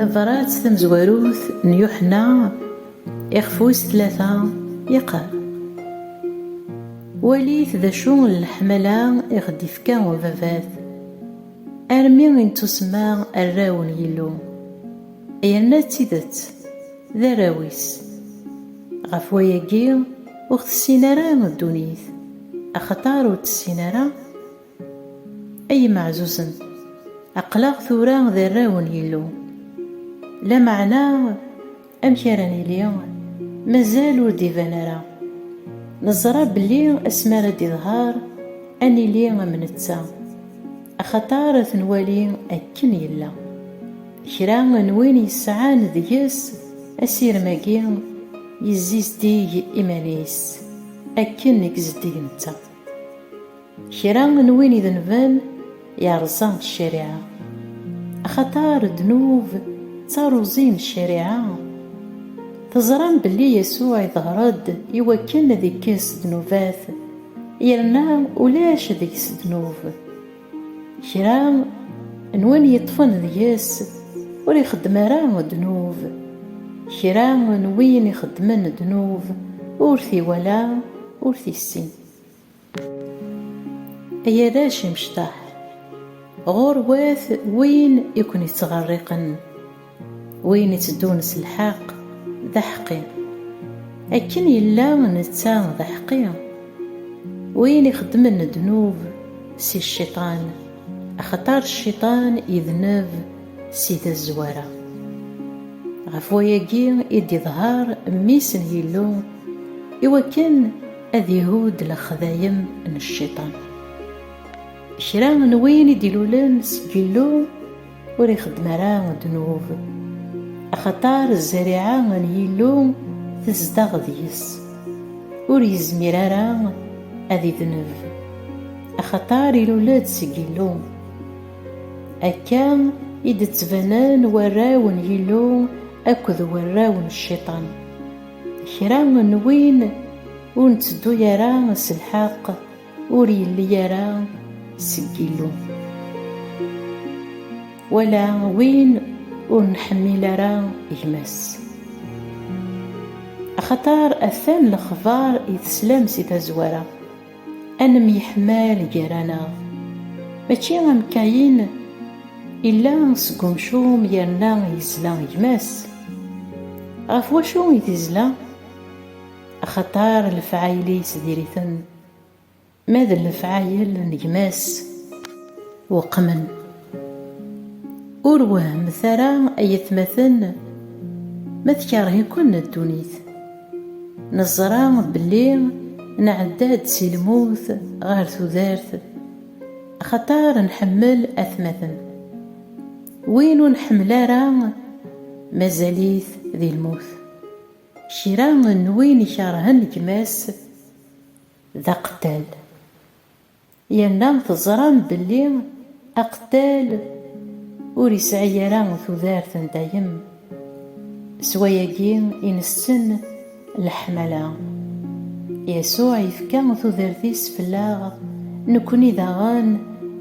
Tabrat tamezwarut n Yuḥenna iɣef wis tlata yeqqar, Walit d acu n leḥmala i ɣ-d-ifka ubabat, armi i nettusemma arraw n Yillu, yerna d tidet d arraw-is! Ɣef wayagi ur ɣ-tessin ara ddunit, axaṭer ur tessin ara Ay imeɛzuzen, aql-aɣ tura d arraw n Yillu. Lameɛna amek ara nili? Mazal ur d-iban ara. Neẓra belli asmi ara d-iḍher, ad nili am netta, axaṭer ad t-nwali akken yella. Kra n win yesɛan deg-s asirem-agi yezzizdig iman-is akken i yezzeddig netta. Kra n win idenben yerẓa ccariɛa, axaṭer ddnub d taruẓi n ccariɛa. Teẓram belli Yasuɛ iḍher-d i wakken ad ikkes ddnubat, yerna ulac deg-s ddnub. Kra n win yeṭṭfen deg-s ur ixeddem ara ddnub. Kra n win ixeddmen ddnub ur t-iwala, ur t-issin. Ay arrac imecṭaḥ, ɣurwat win i ken-ittɣerriqen, win itteddun s lḥeqq d aḥeqqi, akken yella netta d aḥeqqi, win ixeddmen ddnub si cciṭan, axaṭer cciṭan idneb si tazwara. Ɣef wayagi i d-iḍher Mmi-s n Yillu, iwakken ad ihud lexdayem n cciṭan. Kra n win i d-ilulen seg Yillu ur ixeddem ara ddnub, axaṭer zzariɛa n Yillu tezdeɣ deg-s, ur yezmir ara ad idneb, axaṭer ilul-d seg Yillu. Akka i d-ttbanen warraw n Yillu akked warraw n cciṭan. Kra n win ur netteddu ara s lḥeqq ur yelli ara seg Yillu. Wala win ur nḥemmil ara gma-s. Axaṭer atan lexbar i teslam si tazwara. Ad nemyeḥmal gar-aneɣ, mačči am Kayin, illa seg umcum yerna yezla gma-s. Ɣef wacu i t-izla? Axaṭer lefɛayel-is diri-ten, ma d lefɛayel n gma-s weqmen. Ur wehhmet ara ay atmaten ma tkeṛh-iken ddunit. Neẓra belli nɛedda-d si lmut ɣer tudert axaṭer nḥemmel atmaten. Win ur nḥemmel ara mazal-it di lmut. Kra n win ikeṛhen gma-s d aqettal. Yerna teẓram belli aqettal ur yesɛi ara tudert n dayem, s wayagi i nessen leḥmala. Yasuɛ yefka tudert-is fell-aɣ, nekkni daɣen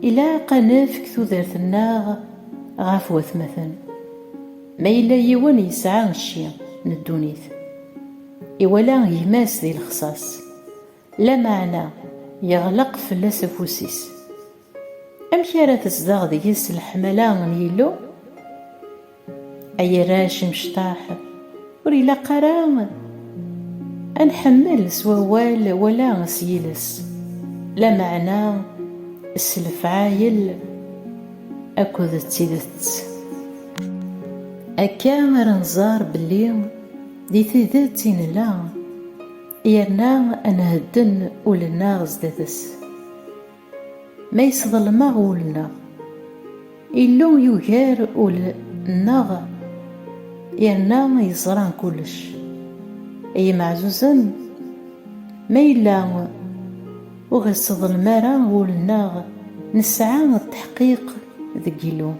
ilaq ad nefk tudert-nneɣ ɣef watmaten. Ma yella yiwen yesɛa cci n ddunit, iwala gma-s di lexṣaṣ, Lameɛna yeɣleq fell-as afus-is. Amek ara tezdeɣ deg-s leḥmala n Yillu? Ay arrac imecṭaḥ, ur ilaq ara ad nḥemmel s wawal wala s yiles, lameɛna s lefɛayel akked d tidet. Akka ara nẓer belli di tidet i nella. Yerna a nhedden ul-nneɣ zdat-s. Ma yesḍelmeɣ ul-nneɣ, Illu yugar ul-nneɣ yerna yeẓra kullec. Ay imeɛzuzen, ma yella ur ɣ-iseḍlem ara wul-nneɣ, nesɛa lteḥqiq Deg yilu,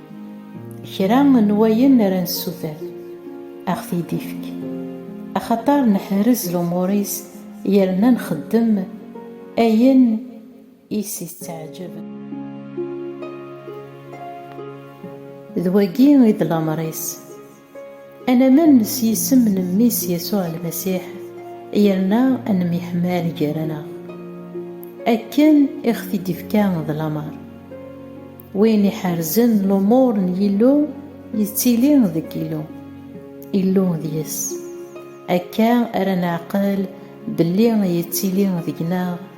kra n wayen ara nessuter, ad ɣ-t-id-ifk, axaṭer neḥrez lumuṛ-is yerna nxeddem ayen i s-itteɛjeb. D wagi i d lameṛ-is. Anaman s yisem n Mmi-s Yasuɛ Lmasiḥ, yerna ad nemyeḥmal gar-aneɣ. Akken i ɣ-t-id-ifka d lameṛ. Win iḥerzen lumuṛ n Yillu yettili deg Yillu, Illu deg-s. Akka ara neɛqel belli yettili deg-neɣ